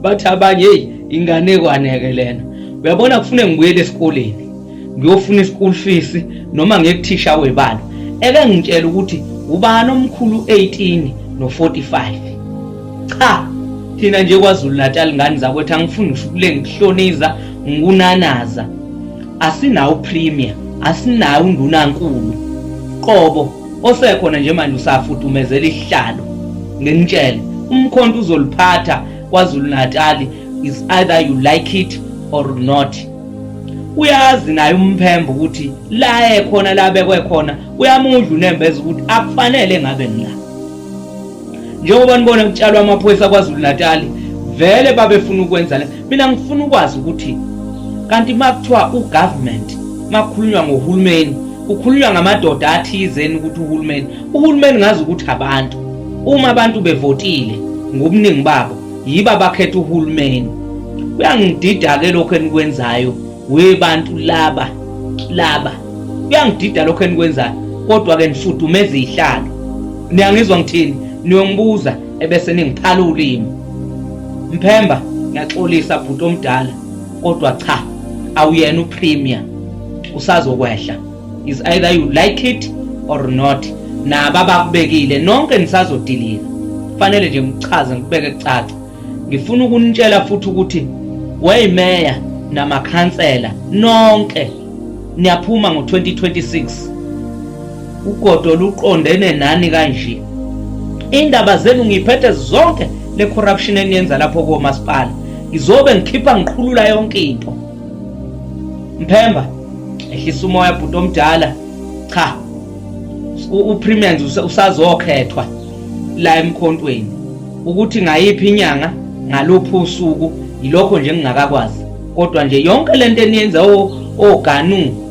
bathi abanye eyi inganekwane-ke lena uyabona kufune ngibuyele esikoleni ngiyofuna i-school fees noma ngekuthisha webala eke ngitshela ukuthi ubani omkhulu 18 no-45 cha thina nje kwazulu natal ngane zakwethu angifuni ngisho ukulengihloniza ngikunanaza asinawo premier asinayo undunankulu qobo osekhona nje manje usafudumezela isihlalo ngimtshele umkhonto uzoliphatha kwazulu natali is either you like it or not uyazi naye umphembo ukuthi la ekhona la bekwe khona uyamudla unembeza ukuthi akufanele ngabe ngila njengoba nibona kutshalwa amaphoyisa kwazulu natali vele babefuna ukwenza le mina ngifuna ukwazi ukuthi kanti uma kuthiwa ugovernment makukhulunywa ngohulumeni kukhulunywa ngamadoda athizeni ukuthi uhulumeni uhulumeni ngazi ukuthi abantu uma abantu bevotile ngobuningi babo yiba bakhetha uhulumeni kuyangidida-ke lokhu enikwenzayo webantu laba laba kuyangidida lokhu enikwenzayo kodwa-ke nifudumeza izihlalo niyangizwa ngithini niyongibuza ebese ningiphala ulimi mphemba ngiyaxolisa bhuti omdala kodwa cha awuyena upremier usazokwehla is either you like it or not nabo abakubekile nonke nisazodilika kufanele nje ngichaze ngikubeke kucaca ngifuna ukunitshela futhi ukuthi weyimeya namakhansela nonke niyaphuma ngo-2026 Ugodo luqondene nani kanje. Indaba zenu ngiphethe zonke le corruption eniyenza lapho komasipala. Ngizobe ngikhipha ngiqhulula yonke into. Mphemba ehlisa umoya bhuti omdala. Cha. UPremiers usazokhethwa la emkhontweni ukuthi ngayiphi inyanga ngaluphi usuku yilokho nje ngingakakwazi kodwa nje yonke lento eniyenza oganu oh, oh,